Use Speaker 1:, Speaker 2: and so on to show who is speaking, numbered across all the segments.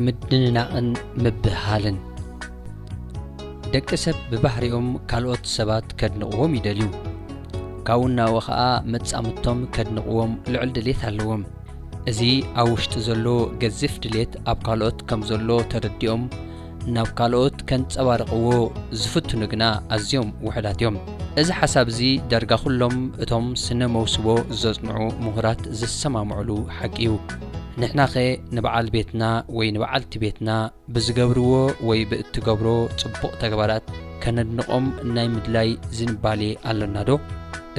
Speaker 1: ምድንናቕን ምብህሃልን ደቂ ሰብ ብባህሪኦም ካልኦት ሰባት ከድንቕዎም ይደልዩ ካብኡ እናወ ኸኣ መጻምቶም ከድንቕዎም ልዑል ድሌት ኣለዎም እዚ ኣብ ውሽጢ ዘሎ ገዚፍ ድሌት ኣብ ካልኦት ከም ዘሎ ተረዲኦም ናብ ካልኦት ከንጸባርቕዎ ዝፍትኑ ግና ኣዝዮም ውሑዳት እዮም። እዚ ሓሳብ እዚ ዳርጋ ኩሎም እቶም ስነ መውስቦ ዘጽንዑ ምሁራት ዝሰማምዑሉ ሓቂ እዩ። ንሕናኸ ንበዓል ቤትና ወይ ንበዓልቲ ቤትና፣ ብዝገብርዎ ወይ ብእትገብሮ ጽቡቕ ተግባራት ከነድንቖም ናይ ምድላይ ዝንባሌ ኣሎናዶ?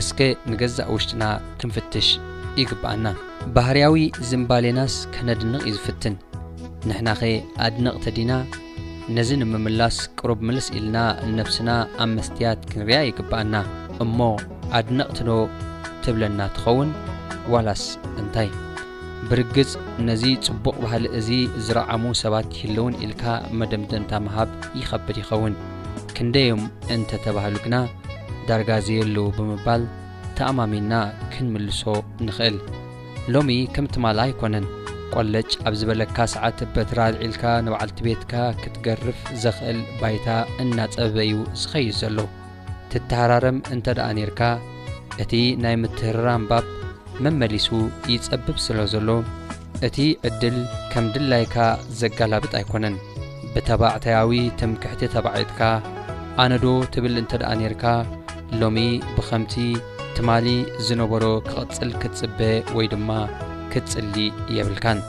Speaker 1: እስከ ንገዛእ ውሽጥና ክንፍትሽ ይግብኣና። ባህርያዊ ዝንባሌናስ ከነድንቕ እዩ ዝፍትን። ንሕናኸ ኣድነቕቲ ዲና? ነዚ ንምምላስ ቅሩብ ምልስ ኢልና ንነብስና ኣብ መስትያት ክንሪኣ ይግብኣና። እሞ ኣድነቕቲዶ ትብለና ትኸውን? ዋላስ እንታይ? ብርግጽ ነዚ ጽቡቕ ባህሊ እዚ ዝረዓሙ ሰባት ይህልዉን ኢልካ መደምደምታ ምሃብ ይኸብድ ይኸውን። ክንደይ'ዮም እንተ ተባህሉ ግና ዳርጋ ዘየለዉ ብምባል ተኣማሚንና ክንምልሶ ንኽእል። ሎሚ ከም ትማል ኣይኮነን። ቆለጭ ኣብ ዝበለካ ሰዓት በትሪ ኣልዒልካ ንበዓልቲ ቤትካ ክትገርፍ ዘኽእል ባይታ እናጸበበ'ዩ ዝኸይድ ዘሎ። ትተሃራረም እንተደኣ ኔርካ፣ እቲ ናይ ምትህርራም ባብ መመሊሱ ይጸብብ ስለዘሎ፣ እቲ ዕድል ከም ድላይካ ዘጋላብጥ ኣይኮነን። ብተባዕታያዊ ትምክሕቲ ተባዒጥካ፣ ኣነዶ ትብል እንተደኣ ኔርካ፣ ሎሚ ብኸምቲ ትማሊ ዝነበሮ ክቕጽል ክትጽበ ወይ ድማ ክትጽሊ የብልካን።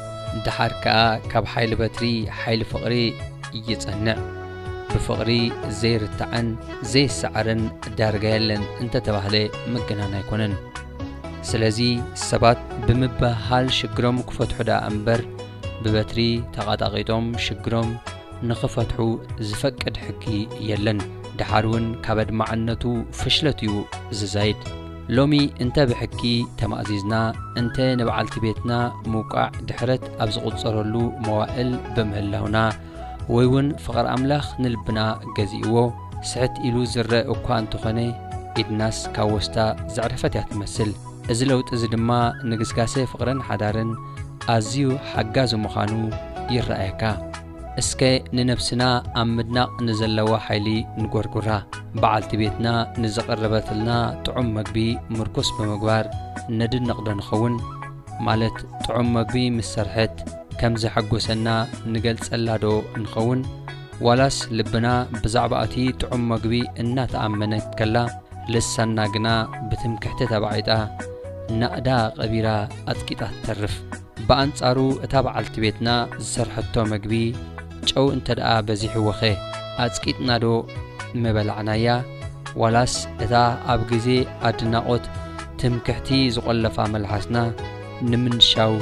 Speaker 1: ደሓር ከኣ ካብ ሓይሊ በትሪ ሓይሊ ፍቕሪ ይጸንዕ። ብፍቕሪ ዘይርታዕን ዘይሰዓርን ዳርጋ የለን እንተተባህለ ምግናን ኣይኮነን። ስለዚ ሰባት ብምብህሃል ሽግሮም ክፈትሑ ደኣ እምበር ብበትሪ ተቓጣቒጦም ሽግሮም ንኽፈትሑ ዝፈቅድ ሕጊ የለን። ደሓር እውን ካብ ኣድማዕነቱ ፍሽለት እዩ ዝዛይድ። ሎሚ እንተ ብሕጊ ተማእዚዝና እንተ ንበዓልቲ ቤትና ምውቃዕ ድሕረት ኣብ ዝቑጸረሉ መዋእል ብምህላውና፣ ወይ ውን ፍቕሪ ኣምላኽ ንልብና ገዚእዎ ስሕት ኢሉ ዝረእ እኳ እንተኾነ ኢድናስ ካብ ወስታ ዘዕረፈት እያ ትመስል። እዚ ለውጢ እዚ ድማ ንግስጋሴ ፍቕርን ሓዳርን ኣዝዩ ሓጋዚ ምዃኑ ይረኣየካ። እስከ ንነብስና ኣብ ምድናቕ ንዘለዋ ሓይሊ ንጎርጉራ። በዓልቲ ቤትና ንዘቕረበትልና ጥዑም መግቢ ምርኩስ ብምግባር ነድንቕዶ ንኸውን? ማለት ጥዑም መግቢ ምስ ሰርሐት ከም ዘሐጐሰና ንገልጸላዶ ንኸውን? ዋላስ ልብና ብዛዕባ እቲ ጥዑም መግቢ እናተኣመነት ከላ ልሳንና ግና ብትምክሕቲ ተባዒጣ ናእዳ ቀቢራ ኣጽቂጣ ትተርፍ? ብኣንጻሩ እታ በዓልቲ ቤትና ዝሰርሐቶ መግቢ፣ ጨው እንተድኣ በዚሕዎኸ ኣጽቂጥናዶ ምበላዕናያ? ዋላስ እታ ኣብ ግዜ ኣድናቖት ትምክሕቲ ዝቖለፋ መልሓስና ንምንሻው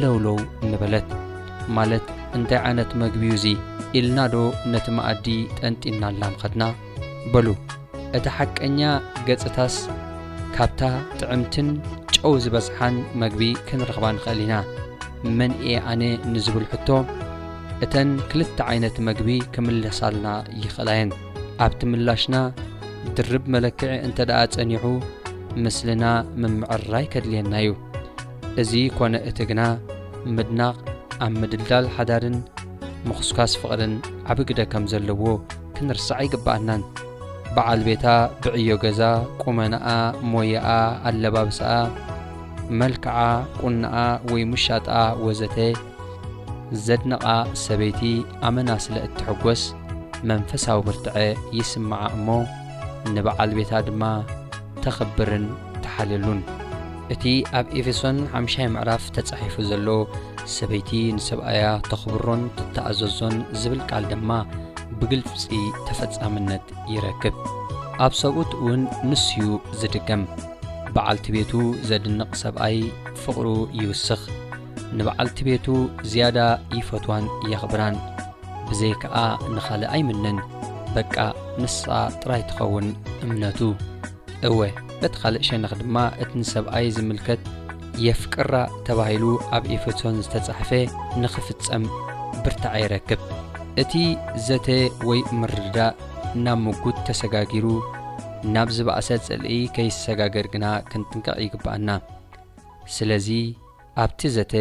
Speaker 1: ለውለው ምበለት? ማለት እንታይ ዓይነት መግቢዩ'ዚ? ኢልናዶ ነቲ መኣዲ ጠንጢንናላ ምኸድና? በሉ እቲ ሓቀኛ ገጽታስ ካብታ ጥዕምትን ጨው ዝበዝሓን መግቢ ክንረኽባ ንኽእል ኢና። መን እየ ኣነ ንዝብል ሕቶ እተን ክልተ ዓይነት መግቢ ክምለሳልና ይኽእላ እየን። ኣብቲ ምላሽና ድርብ መለክዒ እንተደኣ ጸኒሑ ምስልና ምምዕርራይ ከድልየና እዩ። እዚ ኮነ እቲ ግና ምድናቕ ኣብ ምድልዳል ሓዳርን ምኹስኳስ ፍቕርን ዓቢ ግደ ከም ዘለዎ ክንርስዕ ኣይግብኣናን። በዓል ቤታ ብዕዮ ገዛ፣ ቁመናኣ፣ ሞያኣ፣ ኣለባብሳኣ፣ መልክዓ፣ ቁናኣ ወይ ምሻጣኣ ወዘተ ዘድንቓ ሰበይቲ ኣመና ስለ እትሕጐስ መንፈሳዊ ብርትዐ ይስምዓ እሞ ንበዓል ቤታ ድማ ተኽብርን ተሓልየሉን። እቲ ኣብ ኤፌሶን ሓምሻይ ምዕራፍ ተጻሒፉ ዘሎ ሰበይቲ ንሰብኣያ ተኽብሮን ትተኣዘዞን ዝብል ቃል ድማ ብግልጺ ተፈጻምነት ይረክብ። ኣብ ሰብኡት እውን ንሱዩ ዝድገም። በዓልቲ ቤቱ ዘድንቕ ሰብኣይ ፍቕሩ ይውስኽ፣ ንበዓልቲ ቤቱ ዝያዳ ይፈትዋን የኽብራን። ብዘይ ከኣ ንኻልእ ኣይምነን፣ በቃ ንሳ ጥራይ ትኸውን እምነቱ። እወ፣ በቲ ኻልእ ሸነኽ ድማ እቲ ንሰብኣይ ዚምልከት የፍቅራ ተባሂሉ ኣብ ኤፌሶን ዝተጻሕፈ ንኺፍጸም ብርታዐ ይረክብ። እቲ ዘተ ወይ ምርድዳእ ናብ ምጕት ተሰጋጊሩ ናብ ዝበኣሰ ጽልኢ ከይሰጋገር ግና ክንጥንቀቕ ይግብኣና። ስለዚ፣ ኣብቲ ዘተ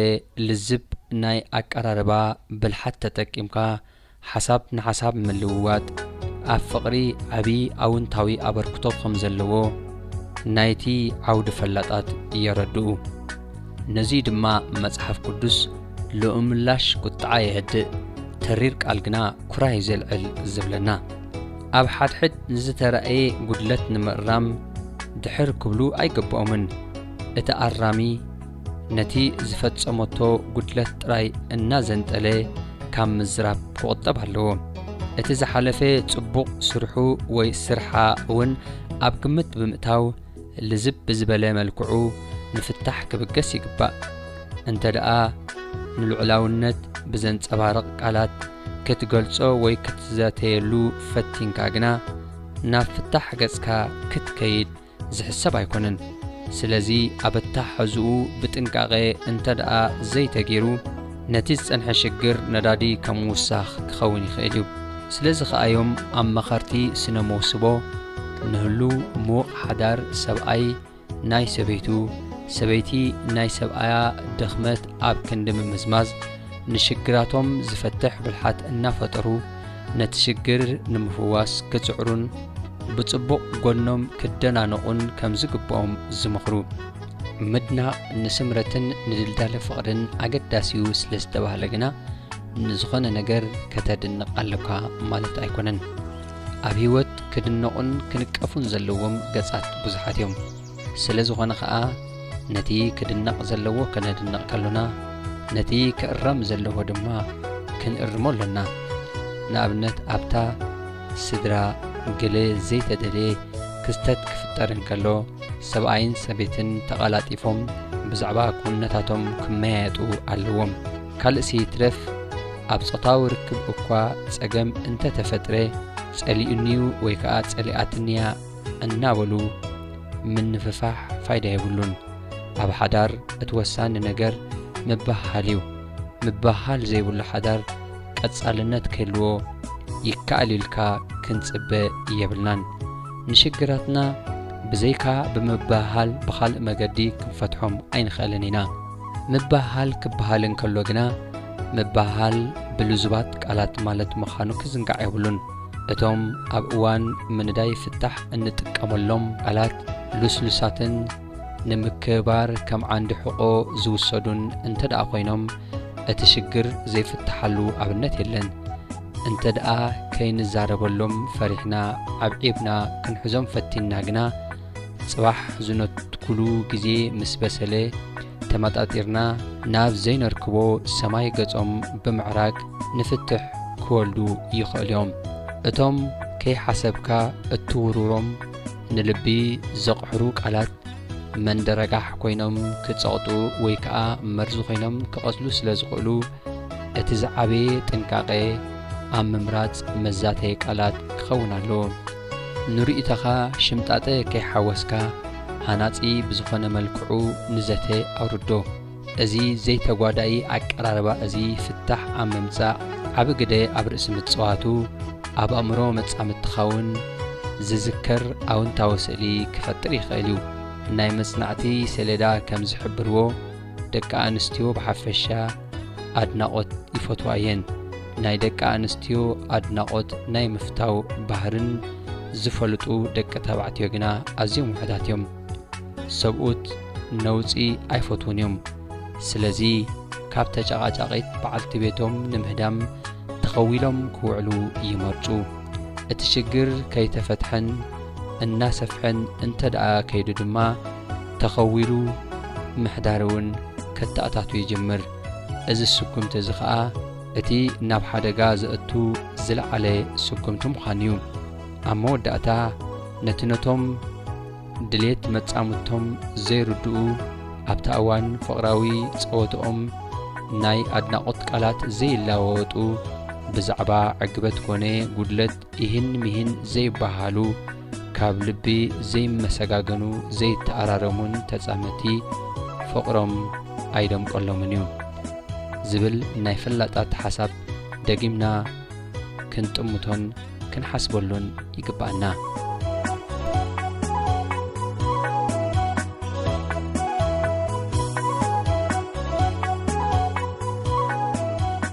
Speaker 1: ልዝብ ናይ ኣቀራርባ ብልሓት ተጠቂምካ ሓሳብ ንሓሳብ ምልውዋጥ ኣብ ፍቕሪ ዓቢ ኣውንታዊ ኣበርክቶ ከም ዘለዎ ናይቲ ዓውዲ ፈላጣት የረድኡ። ነዙይ ድማ መጽሓፍ ቅዱስ ልኡምላሽ ቍጥዓ የህድእ፣ ተሪር ቃል ግና ኵራይ ዜልዕል ዚብለና። ኣብ ሓድሕድ ንዝተራእየ ጕድለት ንምእራም ድሕር ክብሉ ኣይግብኦምን። እቲ ኣራሚ፣ ነቲ ዝፈጸመቶ ጉድለት ጥራይ እናዘንጠለ ካብ ምዝራብ ክቑጠብ ኣለዎ። እቲ ዝሓለፈ ጽቡቕ ስርሑ ወይ ስርሓ እውን ኣብ ግምት ብምእታው ልዝብ ብዝበለ መልክዑ ንፍታሕ ክብገስ ይግባእ። እንተደኣ ንልዑላውነት ብዘንጸባርቕ ቃላት ክትገልጾ ወይ ክትዘተየሉ ፈቲንካ ግና ናብ ፍታሕ ገጽካ ክትከይድ ዝሕሰብ ኣይኮነን። ስለዚ ኣብ ኣተሓሕዝኡ ብጥንቃቐ እንተድኣ ዘይተገይሩ ነቲ ዝጸንሐ ሽግር ነዳዲ ከም ምውሳኽ ክኸውን ይኽእል እዩ። ስለዚ ከኣ'ዮም ኣማኸርቲ ስነ መውስቦ ንህሉው ምዉቕ ሓዳር ሰብኣይ ናይ ሰበይቱ፣ ሰበይቲ ናይ ሰብኣያ ድኽመት ኣብ ክንዲ ምምዝማዝ ንሽግራቶም ዝፈትሕ ብልሓት እናፈጠሩ፣ ነቲ ሽግር ንምፍዋስ ክጽዕሩን ብጽቡቕ ጎኖም ክደናነቑን ከም ዝግብኦም ዝምኽሩ ምድናቕ ንስምረትን ንድልዳለ ፍቕርን ኣገዳሲዩ ስለ ዝተባህለ ግና ንዝኾነ ነገር ከተድንቕ ኣለኳ ማለት ኣይኮነን ኣብ ህይወት ክድነቑን ክንቀፉን ዘለዎም ገጻት ብዙሓት እዮም ስለ ዝኾነ ኸኣ ነቲ ክድነቕ ዘለዎ ከነድንቕ ከሎና ነቲ ክእረም ዘለዎ ድማ ክንእርሞ ኣሎና። ንኣብነት ኣብታ ስድራ ገለ ዘይተደልየ ክስተት ክፍጠር እንከሎ ሰብኣይን ሰበይትን ተቓላጢፎም ብዛዕባ ክውንነታቶም ክመያየጡ ኣለዎም። ካልእሲ ይትረፍ ኣብ ጾታዊ ርክብ እኳ ጸገም እንተ ተፈጥረ ጸሊኡኒ'ዩ ወይ ከኣ ጸሊኣትኒ'ያ እናበሉ ምንፍፋሕ ፋይዳ የብሉን። ኣብ ሓዳር እቲ ወሳኒ ነገር ምብህሃል እዩ። ምብህሃል ዘይብሉ ሓዳር ቀጻልነት ክህልዎ ይከኣል ኢልካ ክንጽበ የብልናን። ንሽግራትና ብዘይካ ብምብህሃል ብኻልእ መገዲ ክንፈትሖም ኣይንኽእልን ኢና። ምብህሃል ክበሃል እንከሎ ግና ምብህሃል ብልዙባት ቃላት ማለት ምዃኑ ክዝንጋዕ የብሉን። እቶም ኣብ እዋን ምንዳይ ፍታሕ እንጥቀመሎም ቃላት ልስሉሳትን ንምክብባር ከም ዓንዲ ሕቖ ዝውሰዱን እንተድኣ ኮይኖም እቲ ሽግር ዘይፍታሓሉ ኣብነት የለን። እንተድኣ ከይንዛረበሎም ፈሪሕና ኣብ ዒብና ክንሕዞም ፈቲንና ግና፣ ጽባሕ ዝነትኩሉ ግዜ ምስ በሰለ፣ ተመጣጢርና ናብ ዘይነርክቦ ሰማይ ገጾም ብምዕራግ ንፍትሕ ክወልዱ ይኸእሉ'ዮም። እቶም ከይሓሰብካ እትውርውሮም ንልቢ ዘቕሕሩ ቃላት መንደረጋሕ ኮይኖም ክጸቕጡ ወይ ከኣ መርዚ ኮይኖም ክቐትሉ ስለ ዝኸእሉ፣ እቲ ዝዓበየ ጥንቃቐ ኣብ ምምራጽ መዛተዪ ቃላት ክኸውን ኣለዎ። ንርእይቶኻ ሽምጣጠ ከይሓወስካ ሃናጺ ብዝኾነ መልክዑ ንዘተ ኣውርዶ። እዚ ዘይተጓዳኢ ኣቀራርባ እዚ ፍታሕ ኣብ ምምጻእ ዓቢ ግደ ኣብ ርእሲ ምጽዋቱ ኣብ ኣእምሮ መጻምድትኻውን ዝዝከር ኣውንታዊ ስእሊ ክፈጥር ይኽእል እዩ። ናይ መጽናዕቲ ሰሌዳ ከም ዝሕብርዎ ደቂ ኣንስትዮ ብሓፈሻ፣ ኣድናቖት ይፈትዋ እየን። ናይ ደቂ ኣንስትዮ ኣድናቖት ናይ ምፍታው ባህርን ዝፈልጡ ደቂ ተባዕትዮ ግና ኣዝዮም ውሕዳት እዮም። ሰብኡት ነውጺ ኣይፈትዉን እዮም። ስለዚ ካብ ተጨቓጫቒት በዓልቲ ቤቶም ንምህዳም ተኸዊሎም ክውዕሉ ይመርጹ። እቲ ሽግር ከይተፈትሐን እናሰፍሐን እንተደኣ ከይዱ ድማ ተኸዊሉ ምሕዳር እውን ከተኣታቱ ይጅምር። እዚ ስጉምቲ እዚ ከኣ እቲ ናብ ሓደጋ ዘእቱ ዝለዓለ ስጉምቲ ምዃኑ እዩ። ኣብ መወዳእታ ነቲ ነቶም ድሌት መጻምድቶም ዘይርድኡ ኣብታ እዋን ፍቕራዊ ጸወትኦም ናይ ኣድናቖት ቃላት ዘይለዋወጡ ብዛዕባ ዕግበት ኮነ ጉድለት ኢሂን ሚሂን ዘይበሃሉ፣ ካብ ልቢ ዘይመሰጋገኑ፣ ዘይተኣራረሙን ተጻመቲ ፍቕሮም ኣይደምቀሎምን እዩ። ዝብል ናይ ፈላጣት ሓሳብ ደጊምና ክንጥምቶን ክንሓስበሉን ይግበኣና።